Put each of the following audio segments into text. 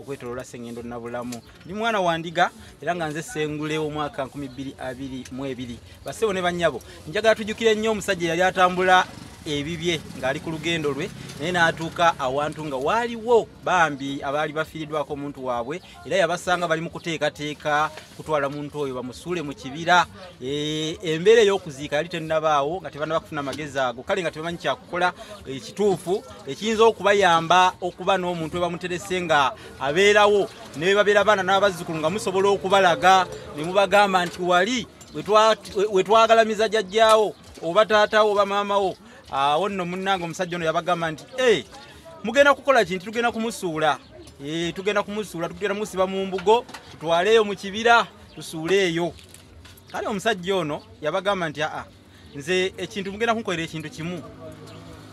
okwetolola sengendo nabulamu ndi mwana wandiga era nga nze sengule omwaka 2222 basebo ne banyabo njagala tujukire nnyo omusajja yali atambula ebibye ng'ali ku lugendo lwe naye n'atuuka awantu nga waaliwo bambi abaali bafiiriddwako omuntu waabwe era yabasanga bali mu kuteekateeka kutwala muntu oyo bamusuule mu kibira eh, embeera ey'okuziika yali tennabaawo nga tebana bakufuna amagezi ago kale nga tebamanyi kyakukola ekituufu eh, ekiyinza okubayamba okuba n'omuntu we bamuterese nga abeerawo ne bebabeera baana n'abazzukulu nga musobola okubalaga ne mubagamba nti wali wetwagalamiza jajjaawo oba taatawo oba maamawo awo ah, nno munnange omusajja ono yabagamba nti e mugenda kukola kinti tugenda kumusuula eh, tugenda kumusuula tugenda musiba mu mbugo tutwaleeyo mu kibira tusuuleeyo kale omusajja ono yabagamba nti aa nze ekintu mugenda kunkolera ekintu kimu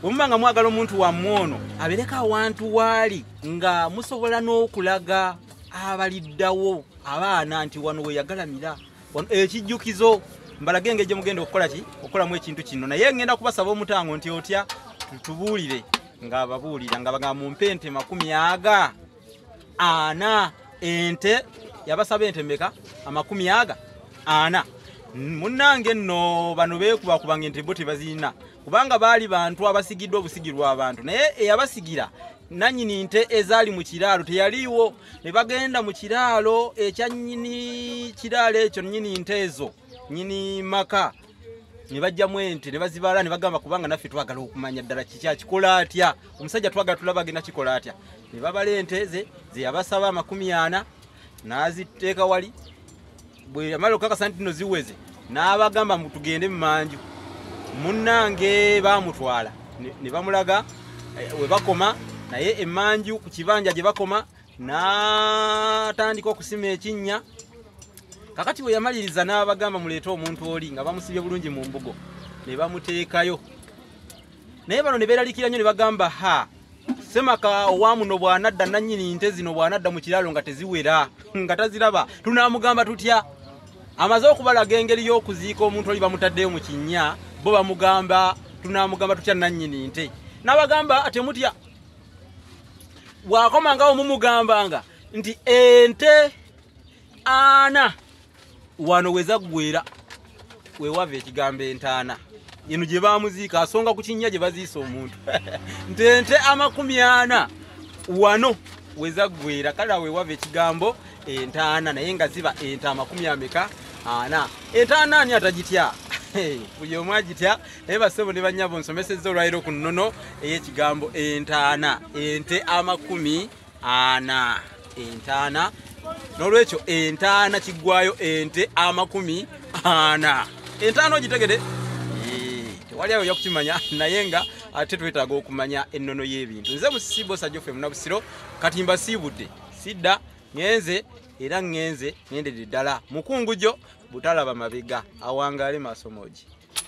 wemuba nga mwagala omuntu wammwe ono abeereko awantu waali nga musobola n'okulaga abaliddawo abaana nti wano weyagalamira ekijjukizo mbalage engeri gye mugenda okukola ki okukolamu ekintu kino naye ngenda kubasaba omutango nti otya tubuulire ng'ababuulira nga bagamba mumpe ente makumi aga ana ente yabasaba ente meka amakumi aga ana munnange nno bano beekubakuba nga ente bo tebazirina kubanga baali bantu abasigiddwa obusigirwa abantu naye eyabasigira nanyini nte ezaali mu kiraalo teyaliiwo ne bagenda mu kiraalo ekya nnyini kiraalo ekyo nnyini nte ezo nnyini maka ne bajjamu ente ne bazibaala ne bagamba kubanga naffe twagala okumanya ddala kiki akikola atya omusajja twagala tulaba agenda kikola atya ne babala ente ze ze yabasaba amakumi ana n'aziteeka wali bwe yamala okukakasa nti no ziweze n'abagamba mu tugende mu manju munnange baamutwala ne bamulaga eh, we bakoma naye emanju ku kibanja gye bakoma n'atandika okusima ekinnya kakati bwe yamaliriza n'abagamba muleete omuntu oli nga bamusibye bulungi mu mbugo ne bamuteekayo naye bano ne beeralikira nnyo ne bagamba ha semaka owa muno bw'anadda nannyini nte zino bw'anadda mu kiraalo nga teziwera nga taziraba tunaamugamba tutya amaze okubalaga engeri y'okuziika omuntu oli bamutaddeyo mu kinnya bo bamugamba tunaamugamba tutya nannyini nte n'abagamba temutya bw'akomangawo mumugambanga nti ente ana wano weza gwera wewava ekigambo entaana eno gye bamuziika asonga ku kinnya gye baziisa omuntu nte nte amakumi ana wano weza gwera kale wewava ekigambo entaana naye nga ziba ente amakumi ameka ana entaana ani atagitya buli omu agitya naye basebo ne banyabo nsomesezza olwaliro ku nnono ey'ekigambo entaana ente amakumi ana entaana n'olwekyo entaana kiggwayo ente amakumi ana entaana ogitegede tewali awo yakukimanya naye nga ate twetaaga okumanya ennono y'ebintu nze musibo sajoffe munabusiro kati mbasiibudde sidda ngenze era ngenze ngendedde ddala mukungujo butalaba mabega awangaale maaso moogi